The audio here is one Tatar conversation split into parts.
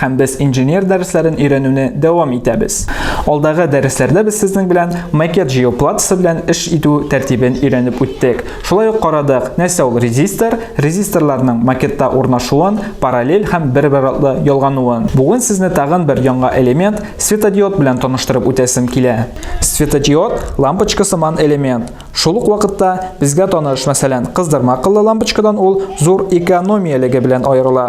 Һәм без инженер дәресләрен өйрәнүне дәвам итәбез. Алдагы дәресләрдә без сезнең белән макет җыю платасы белән эш итү тәртибен өйрәнеп үттек. Шулай ук карадык, нәрсә ул резистор, резисторларның макетта урнашуын, параллель һәм бер-бер артлы ялгануын. Бүген сезне тагын бер яңа элемент, светодиод белән таныштырып үтәсем килә. Светодиод, лампочка сыман элемент. Шул ук вакытта безгә таныш, мәсәлән, кыздырма кыллы лампочкадан ул зур экономиялеге белән аерыла.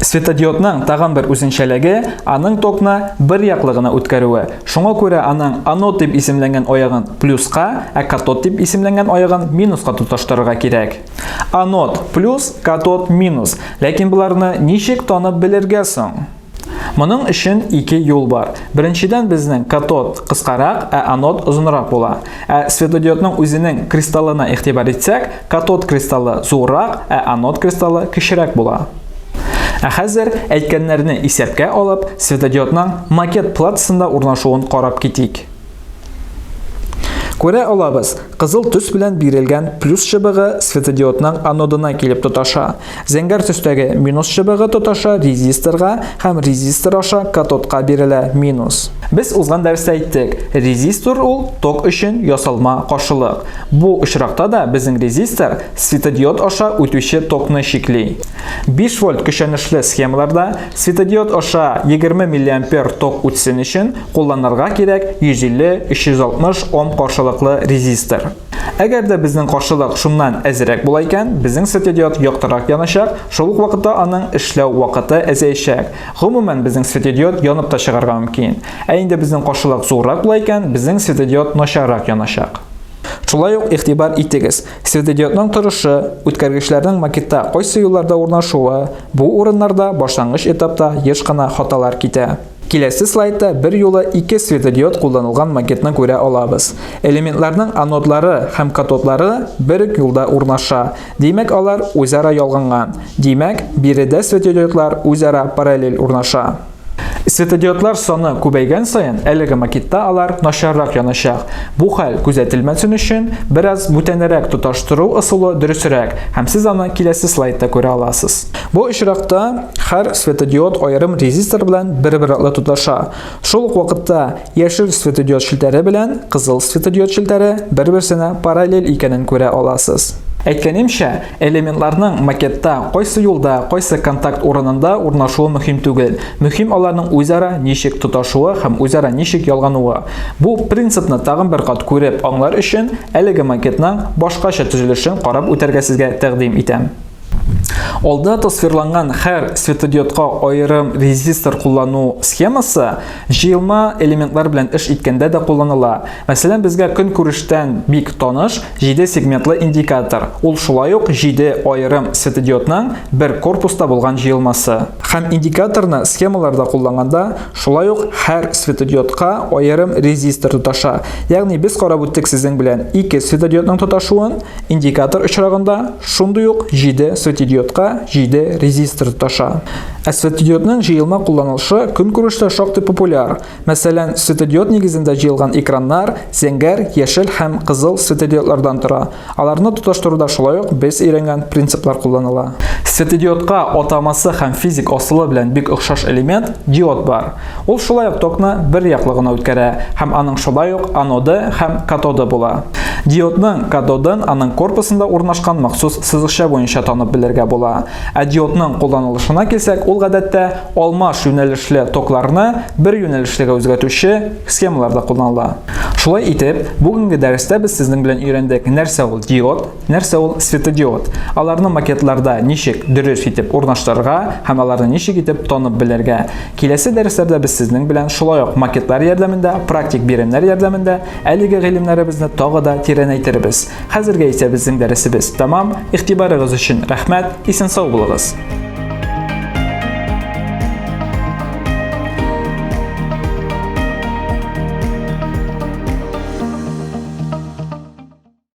Светодиодның тагын бер үзенчәлеге, аның токны бер яклы гына үткәрүе. Шуңа күрә аның анод дип исемләнгән аягын плюска, ә катод дип исемләнгән аягын минуска тоташтырырга кирәк. Анод плюс, катод минус. Ләкин боларны ничек танып белергә соң? Моның өчен ике юл бар. Беренчедән безнең катод кыскарак, ә анод озынрак була. Ә светодиодның үзенең кристаллына игътибар итсәк, катод кристаллы зуррак, ә анод кристаллы кечерәк була. Ә хәзер әйткәннәрне исәпкә алып, светодиодның макет платсында урнашуын карап китик. Күрә алабыз, кызыл төс белән бирелгән плюс чыбыгы светодиодның анодына килеп тоташа. Зәңгәр төстәге минус чыбыгы тоташа резисторга һәм резистор аша катодка бирелә минус. Без узган дәрестә әйттек, резистор ул ток өчен ясалма каршылык. Бу очракта да безнең резистор светодиод аша үтүче токны чикли. 5 вольт көчәнешле схемаларда светодиод аша 20 миллиампер ток үтсен өчен Кулланырга кирәк 150-360 Ом каршылыклы резистор. Әгәр дә безнең каршылык шуннан әзерәк була икән, безнең светодиод яктырак яначак, шул ук вакытта аның эшләү вакыты әзәячәк. Гомумән, безнең светодиод янып та чыгарга мөмкин. Ә инде безнең каршылык зуррак була икән, безнең светодиод начаррак яначак. Шулай ук игътибар итегез, светодиодның торышы, үткәргечләрнең макетта кайсы юлларда урнашуы, бу урыннарда башлангыч этапта еш кына хаталар китә. Киләсе слайдта берьюлы ике светодиод кулланылган макетны күрә алабыз. Элементларның анодлары һәм катодлары бер үк юлда урнаша, димәк алар үзара ялганган, димәк, биредә светодиодлар үзара параллель урнаша. Светодиодлар саны күбәйгән саен әлеге макетта алар начаррак яначак. Бу хәл күзәтелмәсен өчен, бераз бүтәнрәк тоташтыру ысулы дөресрәк һәм сез аны киләсе слайдта күрә аласыз. Бу очракта һәр светодиод аерым резистор белән бер-бер артлы тоташа. Шул ук вакытта яшел светодиод челтәре белән кызыл светодиод челтәре бер-берсенә параллель икәнен күрә аласыз. Әйткәнемчә, элементларның макетта кайсы юлда, кайсы контакт урынында урнашуы мөһим түгел. Мөһим аларның үзара ничек тоташуы һәм үзара ничек ялгануы. Бу принципны тагын бер кат күреп аңлар өчен, әлеге макетның башкача төзелешен карап үтәргә сезгә тәкъдим итәм. Алда тасвирланган һәр светодиодка аерым резистор куллану схемасы җыелма элементлар белән эш иткәндә дә кулланыла. Мәсәлән, безгә көнкүрештән бик таныш 7 сегментлы индикатор. Ул шулай ук 7 аерым светодиодның бер корпуста булган җыелмасы. Һәм индикаторны схемаларда кулланганда шулай ук һәр светодиодка аерым резистор тоташа. Ягъни без карап үттек сезнең белән ике светодиодның тоташуын, индикатор очрагында, Шундый ук 7 светидиодка 7 резистор тоташа. Ә светидиодның җыелма кулланылышы көнкүрештә шактый популяр. Мәсәлән, светодиод нигезендә җыелган экраннар зәңгәр, яшел һәм кызыл светодиодлардан тора. Аларны тоташтыруда шулай ук без өйрәнгән принциплар кулланыла. Светодиодка атамасы һәм физик асылы белән бик охшаш элемент, диод бар. Ул шулай ук токны бер яклы гына үткәрә һәм аның шулай ук аноды һәм катоды була. Диодның катодын аның корпусында урнашкан махсус сызыкча буенча танып белергә була. Ә диодның кулланылышына килсәк, ул гадәттә алмаш юнәлешле токларны бер юнәлешлегә үзгәтүче схемаларда кулланыла. Шулай итеп, бүгенге дәрестә без сезнең белән өйрәндек, нәрсә ул диод, нәрсә ул светодиод, аларны макетларда ничек дөрес итеп урнаштырырга һәм аларны ничек итеп танып белергә. Киләсе дәресләрдә без сезнең белән шулай ук макетлар ярдәмендә, практик биремнәр ярдәмендә әлеге гыйлемнәребезне тагы да тирәнәйтербез. Хәзергә исә безнең дәресебез тәмам. Игътибарыгыз өчен рәхмәт, исән-сау булыгыз!